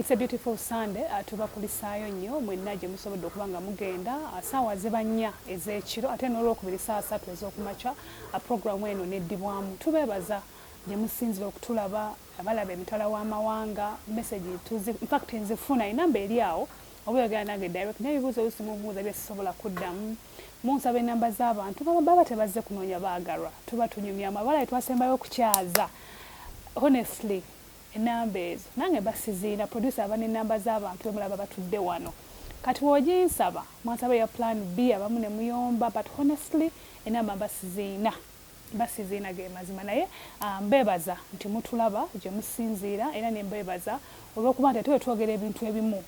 It's a beautiful Sunday uh, tubakulisaayo nnyo mwenna gye musobodde okuba nga mugenda uh, saawa ziba nnya ez'ekiro ate n'olwokubiri saa satu ez'okumakya Pulogulaamu eno n'eddibwamu. Tubeebaza gye musinzira okutulaba, abalaba emitala w'amawanga, mesegi tuzi, in fact nzifuna, enamba eri awo, oba oyogera nange direct, naye ebibuuzo oluusi mubuuza bye sisobola kuddamu, munsaba enamba z'abantu, nga baba tebazze kunoonya baagalwa, tuba tunyumya mwebale twasembayo okukyaza, honestly. Enamba ezo nange mba sizirina. Producer aba ne namba za bantu bemulaba batudde wano kati wojinsaba mwansaba eya plan B abamu ne muyomba but honestly enamba mba sizirina mba sizirina gemazima naye mbebaza nti mutulaba jemusinziira era ne mbebaza olwokuba nti ate wetwogera ebintu ebimu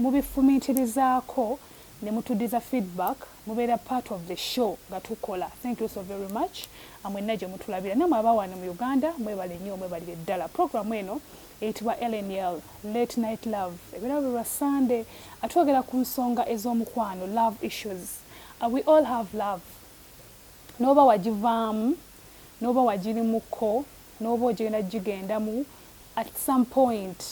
mubifumintirizaako nemutudiza feedback mubeera part of the show nga tukola thank you so very much amwenna gyemutulabira namwe abawano mu Uganda mwebale nnyo mwebalire ddala program eno eyitibwa lnl late night love ebeera buli lwa sande atwogera ku nsonga ez'omukwano love issues uh, we all have love n'oba wagivaamu n'oba wagirimuko n'oba ogenda gigendamu at some point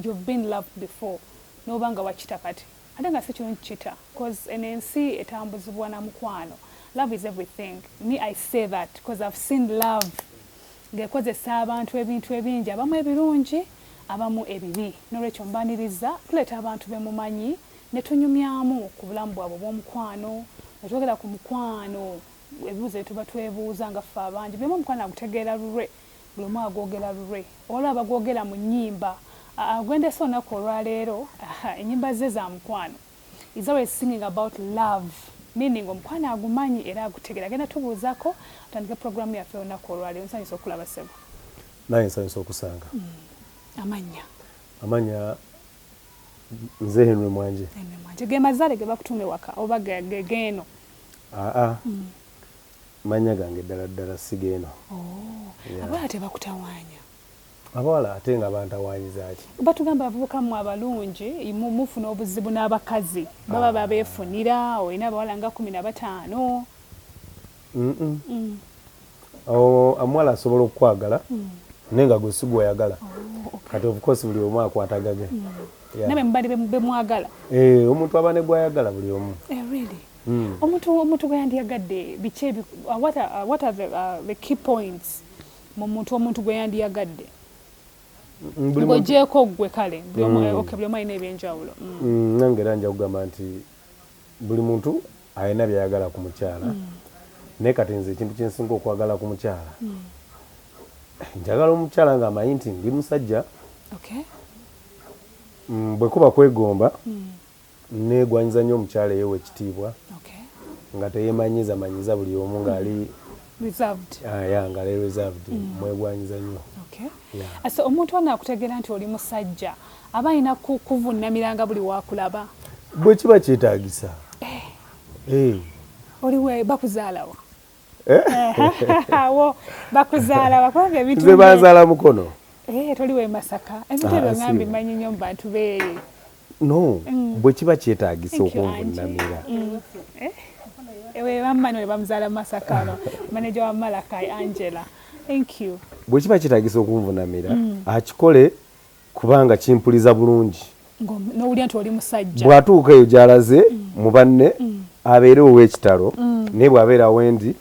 you've been loved before n'oba nga wakita kati Ate nga sikirungi kita coz eno ensi etambuzibwa na mukwano love is everything me I say that coz I've seen love nga ekozesa abantu ebintu ebingi abamu ebirungi abamu ebibi nolwekyo mbaniriza tuleeta abantu bemumanyi netunyumyamu ku bulamu bwabwe obwomukwano nga twogera ku mukwano ebibuzo byetuba twebuuza nga ffe abangi buli omu omukwano agutegeera lulwe. Buli omu agwogera lulwe oba olaba bagwogera mu nnyimba. Gwe ndeese olunaku olwaleero, ennyimba zze za mukwano. He's always singing about love, meaning omukwano agumanyi era agutegeera. Agenda tubuuzako atandike program yaffe olunaku olwaleero. Nsanyuse okukulaba ssebo. Nange nsanyuse okusanga. Amannya? Amannya nze Henry Mwanje. Henry Mwanje. Ge mazaale ge bakutuuma ewaka oba ge geeno? Aa, Manya gange ddala ddala sigeno. Ooh abawala tebakutawanya. Abawala ate nga bantawanyizaki. Batugamba abavubuka mwe abalungi mufuna obuzibu nabakazi baba babefunira olina abawala nga kumi nabataano mm omuwala asobola okukwagala naye nga gwe sigweyagala oh, kati of course buli omu akwata gage mm. nabe mubali bemwagala eh, omuntu aba negwayagala buli omu eh, mm. omuntu omuntu gweyandiyagadde biki uh, what are, uh, what are the, uh, the key points mu muntu omuntu gweyandiyagadde ng'ogyeko ggwe kale buli omu mm. alina ebyenjawulo mm. mm, nange era nja kugamba nti buli muntu alina byayagala ku mukyala naye kati nze ekintu kyensinga okwagala ku mukyala njagala omukyala nga amanyi nti ndi musajja bwekuba kwegomba Negwanyiza nyo omukyala eyewa ekitiibwa nga teyemanyiza manyiza buli omu nga ali reserved ah, yeah, nga ali reserved mm. mwegwanyiza nyo okay. yeah. Ase omuntu ono akutegera nti oli musajja aba alina kuvunamiranga buli wakulaba bwe kiba kyetagisa eh. hey. Eh. oliwe bakuzaalawa Eh? awo bakuzaala bakwanga ebintu nze banzaala mukono eh, toli we masaka emitebe ah, ngambi manyi nyo mubantu beeri no mm. bwe kiba kyetagisa okunvunamira mm. eh? bwe kiba kyetagisa okunvunamira mm. akikole kubanga kimpuliza bulungi nowulira nti oli musajja bwatuuka eyo gyalaze mm. mu banne mm. abeere ow'ekitalo mm. naye bwabeera wendi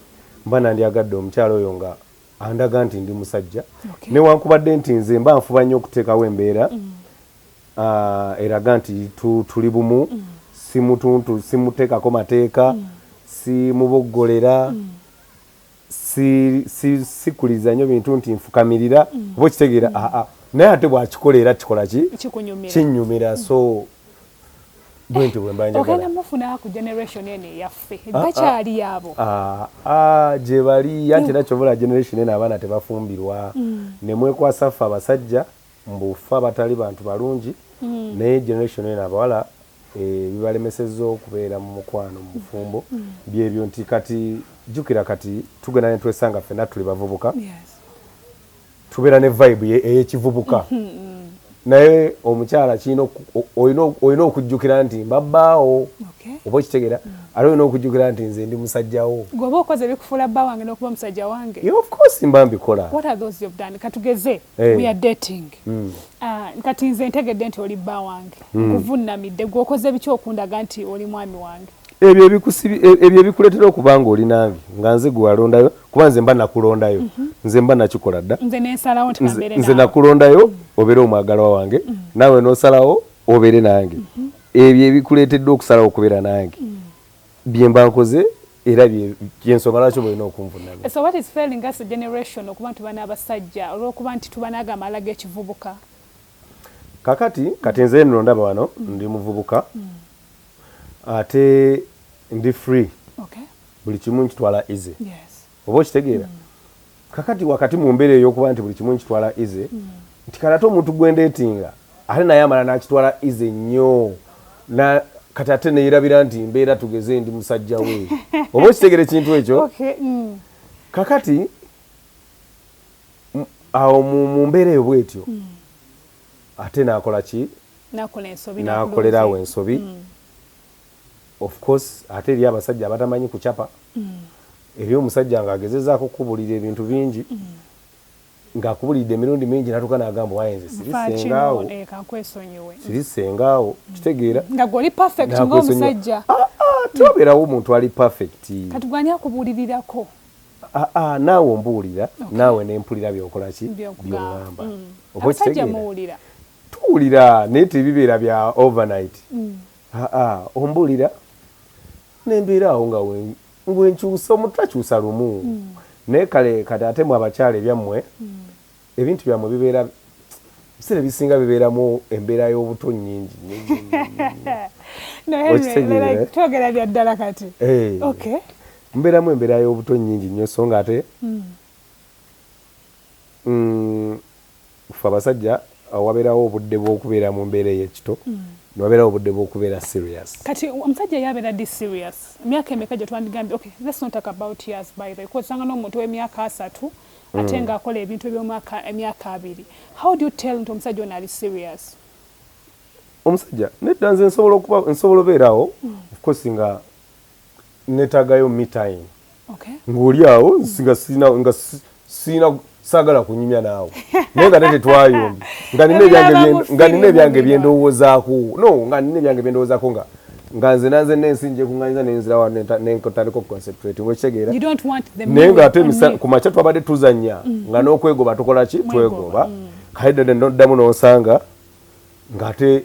mba nandyagadde omukyalo oyo nga andaga nti ndi musajja okay. newankubadde nti nze mba nfuba nnyo okuteekawo embeera mm. uh, eraga nti tu, tuli bumu mm. simutuntu simuteekako mateeka mm. simuboggolera mm. sikuliza nyo bintu nti nfukamirira mm. oba okitegeera mm. aa naye ate bwakikola era kikola ki kinyumira so bwentyo bwembanjagala gyebali anti nakyobola generation eno abaana tebafumbirwa mm. nemwekwasa ffe abasajja Mbu ffe abatali bantu balungi naye generation eno abawala ebibalemesezza okubeera mu mukwano mu bufumbo byebyo nti kati jjukira kati tugenda ne twesanga ffenna tuli bavubuka tubeera ne vibe ey'ekivubuka naye omukyala kirina olina okujjukira nti mba bbaawo oba okitegeera ate olina okujjukira nti nze ndi musajjawo gweoba okoze bikufuula bba wange n'okuba omusajja wange of course mba mbikola katugeze Hey. We are dating. Mm. Uh, kati nze ntegedde nti oli bba wange mm. nkuvunnamidde gwokoze biki okundaga nti oli mwami wange ebyo e-, ebikuleetera okuba nga oli nange nga nze gwewalondayo kuba nze mba nakulondayo mm -hmm. nze mba nakikola dda nze nakulondayo mm. obeere omwagalwa wange mm. naawe nosalawo obeere nange mm -hmm. ebyo ebikuleeteddwa okusalawo okubeera nange mm. byemba nkoze era byensonga lwaki mulina okunvunaga so what is failing us generation okuba nti bana abasajja olwokuba nti tubanaga amala gekivubuka kakati kati nze nno ndaba wano mm. ndi muvubuka mm. ate ndi free okay. buli kimu nkitwala easy yes. oba okitegeera kakati wakati mu mbeera eyokuba nti buli kimu nkitwala ize nti kati ate omuntu gwendeetinga ate naye amala nakitwala ize nnyo kati ate neyerabira nti mbeera tugeze ndi musajja we oba okitegera ekintu ekyo mm. kakati awo mu mbeera eyo bwetyo mm. ate nakola ki nakolerawo ensobi mm. Of course ate eriyo abasajja abatamanyi kucapa, eriyo omusajja nga agezezaako kukubulira ebintu bingi nga akubulidde emirundi mingi natuuka nagamba owaye nze siri senga wo, siri senga wo, kitegeera, nga gwe oli perfect nga omusajja, ah ah tewaberawo omuntu ali perfect, kati gwe ani akubulirirako, ah ah naawe ombuulira naawe nempulira byokola ki, byongamba, oba okitegeera. tuwulira naye tebibeera bya overnight mm. aa ombulira nembeera awo nga wenkyusa omuntu takyusa lumu mm. naye kale kati ate mwe abakyala ebyammwe mm. ebintu byammwe bibeera ebiseera ebisinga bibeeramu embeera y'obuto nyingi twogera bya ddala kati eh. mbeeramu embeera y'obuto nyingi nnyo so nga ate mm. Ffe abasajja waberawo obudde bwokubera mumbera eyekito newaberawo obudde bwokubera serious. Kati omusajja ye abera di serious myaka emeka jetwandigambye ok let's not talk about years by the way kuba osanga nomuntu owemyaka asatu ate nga akola ebintu ebyomwaka emyaka abiri how do you tell nti omusajja ono ali serious. Omusajja nedda nze nsobola okuba nsobola oberawo of course nga netagayo me time ng'oli awo nga sirina nga sirina saagala kunyumya naawe naye nga tete twayombi nga nina ebyange byendowoozaako no nga nina ebyange byendowoozaako nga nga nze nanze nensi njekunganyiza nenzirawa nenkotandika okuconcentrate ngokitegeera naye nga ate ku makya twabadde tuzanya mm. nga n'okwegoba tukola ki twegoba mm. kale dada noddamu nonsanga ng'ate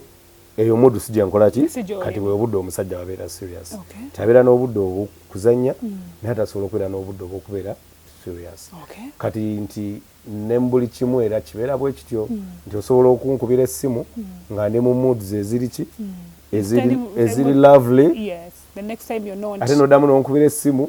eyo mudu sijja nkola ki kati webudde omusajja wabeera serious okay. tabeera n'obudde obwokuzanya mm. naye atasobola okubeera n'obudde obwokubeera serious okay. kati nti ne mubuli kimu era kibeera bwe kityo mm. nti osobola okunkubira essimu mm. nga ndi mu mood zeziri ki mm. eziri, eziri lovely yes. ate nodamu nonkubira essimu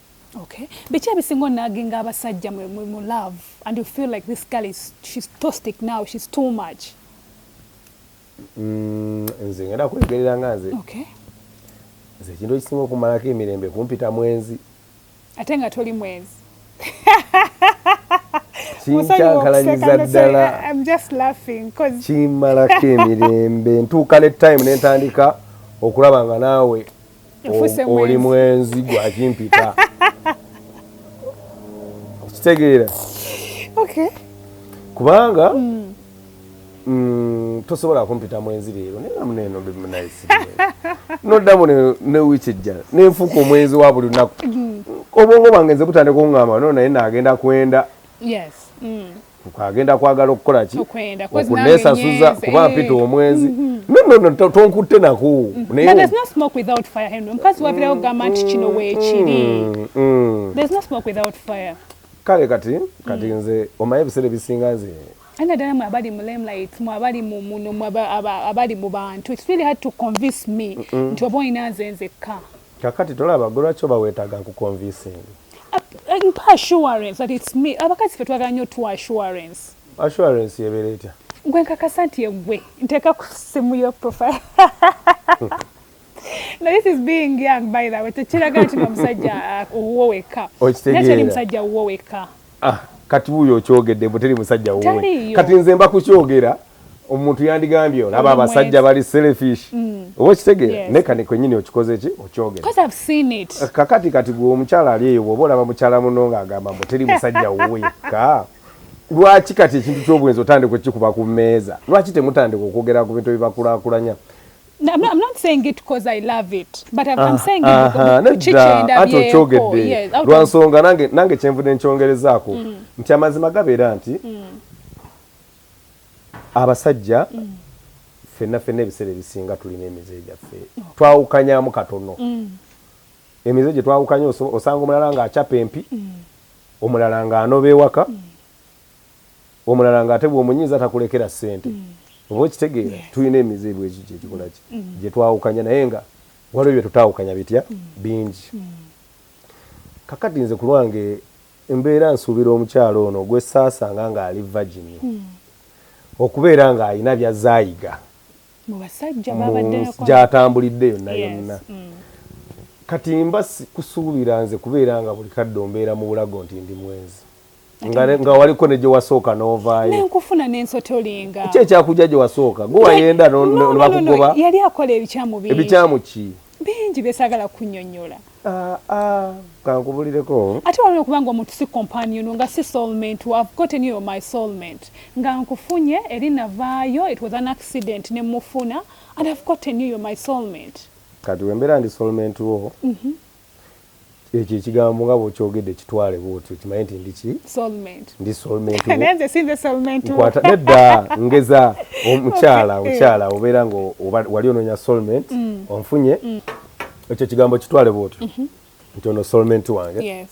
Okay. Biki ebisinga onaginga abasajja mu, mu, mu love and you feel like this girl is she's toxic now she's too much mm, nze ngenda kwegerera nga nze okay. nze ekintu ekisinga okumalako emirembe kumpita mwenzi ate nga toli mwenzi kinkyankalanyiza ddala kimmalako emirembe ntuuka ne time nentandika okulaba nga naawe oli mwenzi gwakimpita okitegeera kubanga mm. Mm, tosobola kumpita mwenzi leero nenamuneeno bimunayisi noddamu ne wiiki ejja nenfuuka omwenzi wa buli lunaku mm. obwongo bwange nze kutandika okungamba no naye nagenda kwenda agenda kwagala okukola ki okunesasuza kuba mpita eh. omwenzi mm-hmm. nonono tonkutte nako mukazi wabirawo gamba nti kino weekiri mm, mm, mm. kale kati kati nze omaye ebiseera ebisinga nze ana dala mwe abali mu limelight mwe abali mu muno mwe abali mu bantu it's really hard to convince me nti oba olina nze nzekka Kakati tolaba gwe lwaki oba wetaaga nkukonvisinge? Mpa assurance that it's me. Abakazi fe twagala nnyo tuwa assurance. Assurance yebeera etya? Gwe nkakasa nti yegwe nteeka ku simu yo profile. Now this is being young by the way. Tekiraga nti nga musajja uh, owuwo wekka. Naye teri musajja owuwo wekka. Ah, kati wuyo okyogedde mbu teri musajja wuwe kati nze mba kukyogera omuntu yandigambye olaba abasajja bali selfish mm. oba okitegeera naye kani kwenyini okikoze ki okyogera eh, kakati kati gwe omukyala ali eyo bwoba olaba mukyala muno nga agamba mbu teri musajja wuwe ka lwaki kati ekintu ky'obwenzi otandika okikuba ku mmeeza lwaki temutandika okwogera ku bintu ebibakulakulanya No, I'm, not, I'm not saying it because I love it but I'm, I'm ah, saying ate okyogedde lwa nsonga nange, nange kyenvudde nkyongerezaako mm. nti amazima gabeera nti mm. abasajja mm. fenna fenna ebiseera ebisinga tulina emize gyaffe oh. twawukanyamu katono mm. emize gye twawukanya osanga omulala ng'acapa empi mm. omulala ng'anoba ewaka mm. Omulala nga ate bw'omunyiiza takulekera ssente. Oba okitegeera? Tulina emize bwe gityo egikola ki? Gye twawukanya naye nga waliwo bye tutaawukanya bitya? Bingi. Kaakati nze ku lwange mbeera nsuubira omukyala ono gwe saasanga ng'ali vagini okubeera ng'alina by'azze ayiga mu basajja gy'atambulidde yonna yonna. Kati mba sikusuubira nze kubeera nga buli kadde ombeera mu bulago nti ndi mwenzi. nga waliko negyewasooka novaayo nenkufuna nensotolinga ki ekyakujja gyewasooka gwe wayenda nebakugoba yali akola ebikyamu bingi ebikyamu ki bingi byesagala kunyonyola ah, ah, kankubulireko ate waliwo kubanga omuntu si companion nga si soulmate i've gotten you my soulmate nga nkufunye eri navaayo it was an accident nemufuna and i've gotten you my soulmate kati wembeera ndi soulmate wo mm -hmm. Ekyo ekigambo nga bwokyogedde kitwale bwotyo kimanye nti ndi ki ndi soulmatenkwata nedda ngeza omukyala omukyala obeera nga wali ononya soulmate mm. onfunye mm. ekyo ekigambo kitwale bwotyo mm-hmm. nti ono soulmate wange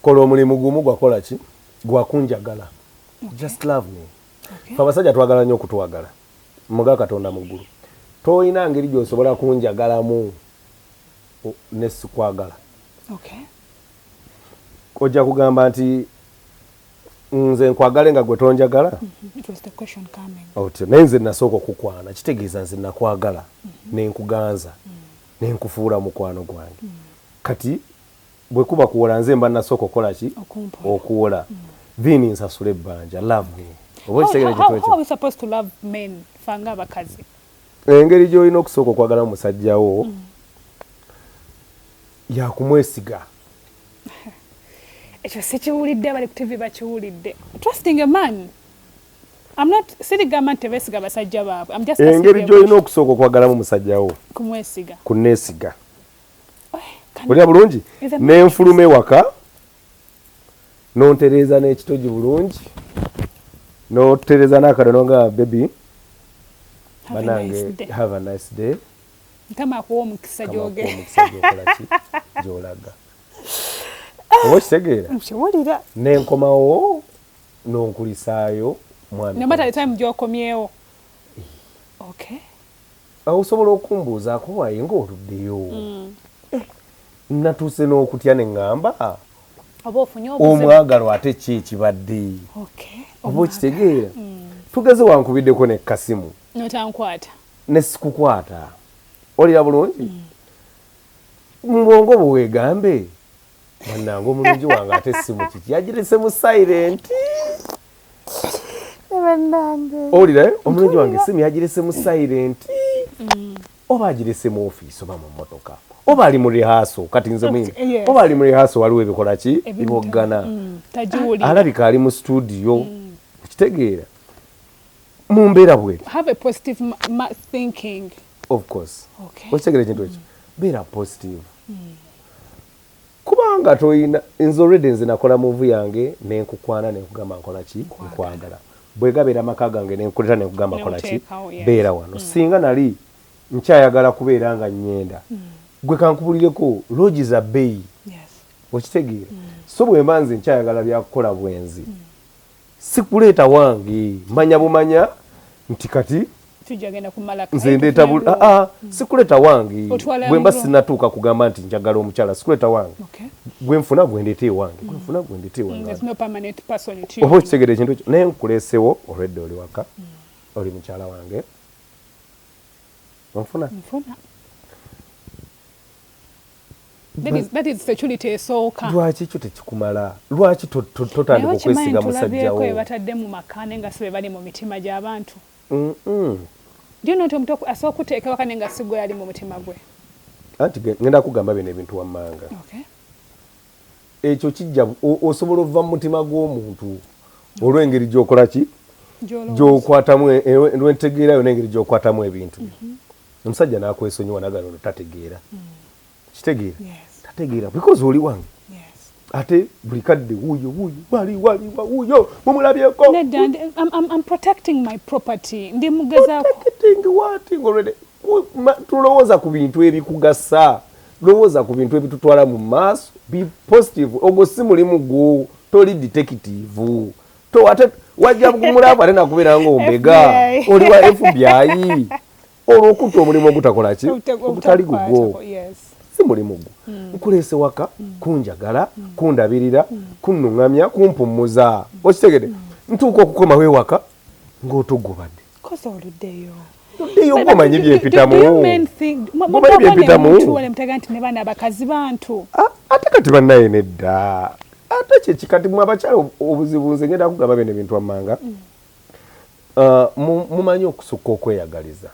kola omulimu gumu gwakola ki gwakunjagala just love me fe abasajja twagala nnyo okutwagala Muga Katonda mu ggulu. Tolina ngeri gy'osobola kunjagalamu ne sikwagala. Okay. Ojja kugamba nti nze nkwagale nga gwe tonjagala mm-hmm. otyo naye nze nasooka okukwana kitegeeza nze nakwagala mm-hmm. nenkuganza mm-hmm. nenkufuula mukwano gwange kati bwekuba kuwola nze mba nasoka okola ki okuwola then nsasule ebbanja love me oba ekitegere kitwekyoabakazi engeri gyolina okusooka okwagala omusajja wo mm. yakumwesiga ekyo sikiwulidde abali ku tivi bakiwulidde trusting a man engeri gyolina okusooka okwagalamu musajja wo kumwesiga kunesiga olya bulungi nenfuluma ewaka nontereeza n'ekitogi bulungi notereeza n'akado nonga bebi banange have a nice day mukama akuwa omukisa gyogeokolaki gyolaga oba okitegeera nkiwulira nenkomawo nonkulisaayo mwami nomatalitime gyokomyewo okay Awo osobola okumbuuzaako waye nga oluddeyo. Mm. Eh, natuuse n'okutya ne ŋŋamba omwagalwa ate ki ekibadde oba okitegeera mm. tugeze wankubiddeko ne kasimu notankwata ne sikukwata olira bulungi mm. mu bwongo bwewegambe bannange omulungi wange ate simu kiki yagirese mu silenti owulira eh? omulungi wange simu yagirese mu silent mm. oba agirese mu ofiisi oba mu mmotoka oba ali mu rihaaso kati nze mwini eh, oba ali mu rihaaso waliwo ebikola ki biboggana mm, alabika ali mu situdiyo mm. okitegeera mu mbeera bweri okitegera ekintu ekyo beera positive Kubanga toyina nze already nze nakola move yange nenkukwana nenkugamba nkola ki nkwagala bwegabera maka gange nenkuleta nenkugamba kola ki beera wano mm. singa nali nkyayagala kubeera nga nyenda mm. gwe kankubulireko logi za beyi okitegeera mm. so bwemba nze nkyayagala byakukola bwenzi mm. sikuleeta wange manya bumanya nti kati nze ndeeta ah, ah, sikuleeta wange bwe mba sinatuuka kugamba nti njagala omukyala sikuleeta wange gwe nfuna gwe ndeeta ewange gwe nfuna gwe ndeeta ewange mm, oba okitegera ekintu ekyo naye nkuleesewo olwedde oli waka mm. oli mukyala wange onfuna lwaki ekyo tekikumala lwaki totandika okwesiga musajjawobatadde mu maka ne nga sibe bali mu mitima gyabantu asobola kuteeka waka ne nga sigwe ali mu mutima gwe anti ngenda kugamba bino ebintu wammanga ekyo kijja osobola ova mu mutima gw'omuntu olw'engeri gyokolaki gyokwatamu e, e, lwentegeera yona engeri gyokwatamu ebintu mhm. Omusajja nakwesonyiwa nagana ono tategeera kitegeera tategeera because oli wange ate buli kadde wuyo wuyo wali wali wuyo mumulabyeko nedda I'm protecting my property ndi mugezaako protecting what already tulowooza ku bintu ebikugasa lowooza ku bintu ebitutwala mu maaso be positive ogwo si mulimu gwo toli detective to ate wajja kumulavu ate nakubeera nga ombega oli wa FBI olwo okutta omulimu ogutakola ki ogutali gugwo si mulimu gwo hmm. nkuleese waka hmm. kunjagala hmm. kundabirira kunnuŋŋamya kumpummuza okitegede ntuuka okukomawo ewaka ng'otogobadde kosa oluddeyo eyo gwomanyi byempitamubyempitamuwalmutaga nti ne bana abakazi bantu ah, ate kati banaye nedda ate kyekikati mwe abakyala obuzibu nze ngenda kugamba bene bintu amanga mm. Uh, mumanyi okusukka okweyagaliza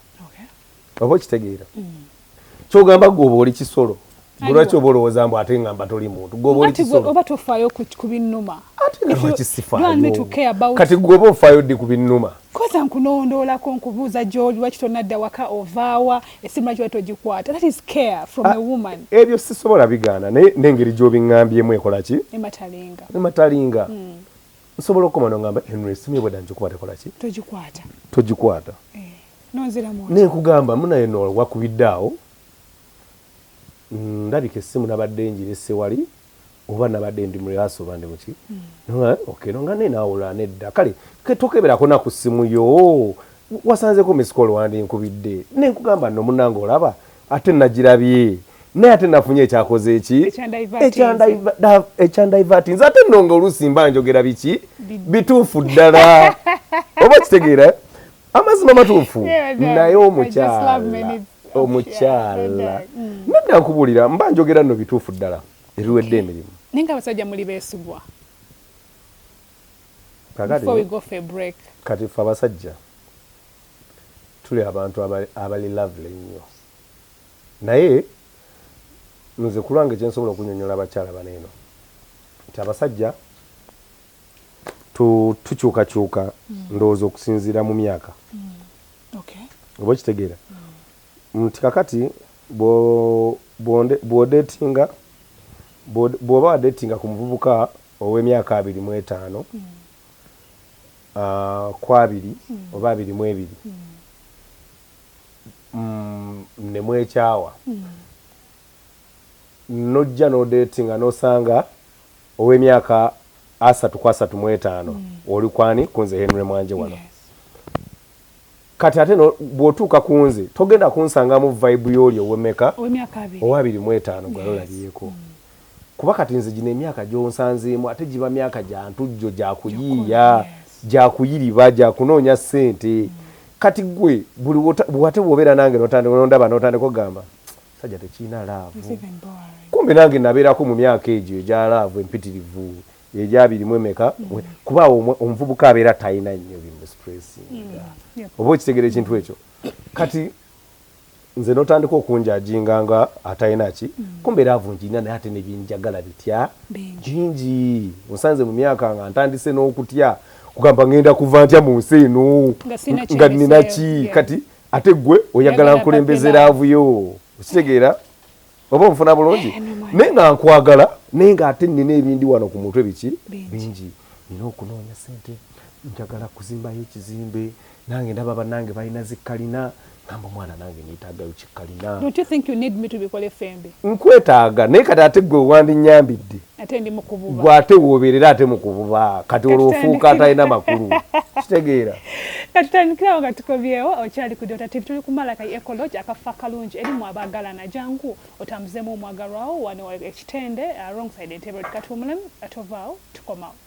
oba okitegeera mm. kyogamba gwe oba oli kisolo lwaki oba olowooza mbu ate ngamba toli muntu gwe oba oli kisolo oba tofaayo ku binnuma ate nga lwaki sifaayo kati gwe oba ofaayo ddi ku binnuma koza nkunondoolako nkubuuza gyoli lwaki tonadda waka ovaawa esimu lwaki watogikwata that is care from ah, a woman ebyo sisobola bigaana naye n'engeri gy'obiŋŋambyemu ekola ki ematalinga ematalinga mm. nsobola okoma nongamba henry esimu ebweda njikuba tekolaki togikwata togikwata eh, nenkugamba munaye no wakubidde awo mm, ndabika esimu nabadde njirese wali oba nabadde ndi murehaso oba ndi muki hmm. okay nonga naye nawulula nedda kale tokeberako naku simu yo wasanzeko misikolo wandi nkubidde nenkugamba no munange olaba ate nagirabye naye ate nafunye ekyakoze eki ekyandivati nze ate nonga oluusi mba njogera biki bituufu ddala oba kitegeera eh? amazima matuufu naye omukyala omukyala mm. nedda nkubulira mba njogera no bituufu ddala ebiwedde emirimu naye nga abasajja muli beesigwa kati fe abasajja tuli abantu abali lovely ennyo naye nze kulwange kyensobola okunyonyola abakyala bano eno nti abasajja tukyukakyuka mm. ndowooza okusinziira mu myaka mm. oba okitegeera mm. nti kakati bwodetinga bw'oba wadetinga ku muvubuka ow'emyaka abiri mu etaano ku abiri oba abiri mu ebiri mm, ne mwekyawa nojja nodetinga nosanga ow'emyaka asatu ku asatu mu etaano oli kwani kunze Henry Mwanje wano kati ate no bwotuuka kunze togenda kunsangamu vibe yooli owemeka owa biri mu etaano gwali olabyeko mm. kuba kati nze gino emyaka gyonsanzeemu ate giba myaka gya ntujjo gya kuyiiya gya kuyiriba gya kunoonya ssente mm. kati gwe buli wate bwobeera nange nondaba notandika okugamba sajja tekirina laavu kumbe nange nabeerako mu myaka egyo egya laavu empitirivu egyabiri mu emeka mm. kuba awo omuvubuka abeera talina nnyo bimusipressinga mm. oba okitegera ekintu mm. ekyo kati nze notandika okunjajinga nga atalina ki kumbeera avunjirina naye ate nebyenjagala bitya bingi osanze mu myaka nga ntandise n'okutya kugamba ngenda kuva ntya mu nsi eno nga nina ki kati ate gwe oyagala nkulembeze laavu yo okitegeera oba onfuna bulungi eh, naye nga nkwagala naye nga ate nina ebindi wano ku mutwe biki bingi nina okunoonya sente njagala kuzimbayo ekizimbe nange ndaba banange balina zikalina namba omwana nange netagayo kikalina nkwetaaga naye kati ate gwe wandinyambidde gwe ate woberera ate mukububa kati olwo ofuuka atalina makulu kitegeera katutandikirawo nga tukobyewo okyali ku dota tv tuli kumala ka ecology akafa kalungi erimu abagalana jangu otambuzemu omwagalwawo wano ekitende uh, wrong side entebe katwumulemu atovaawo tukomawo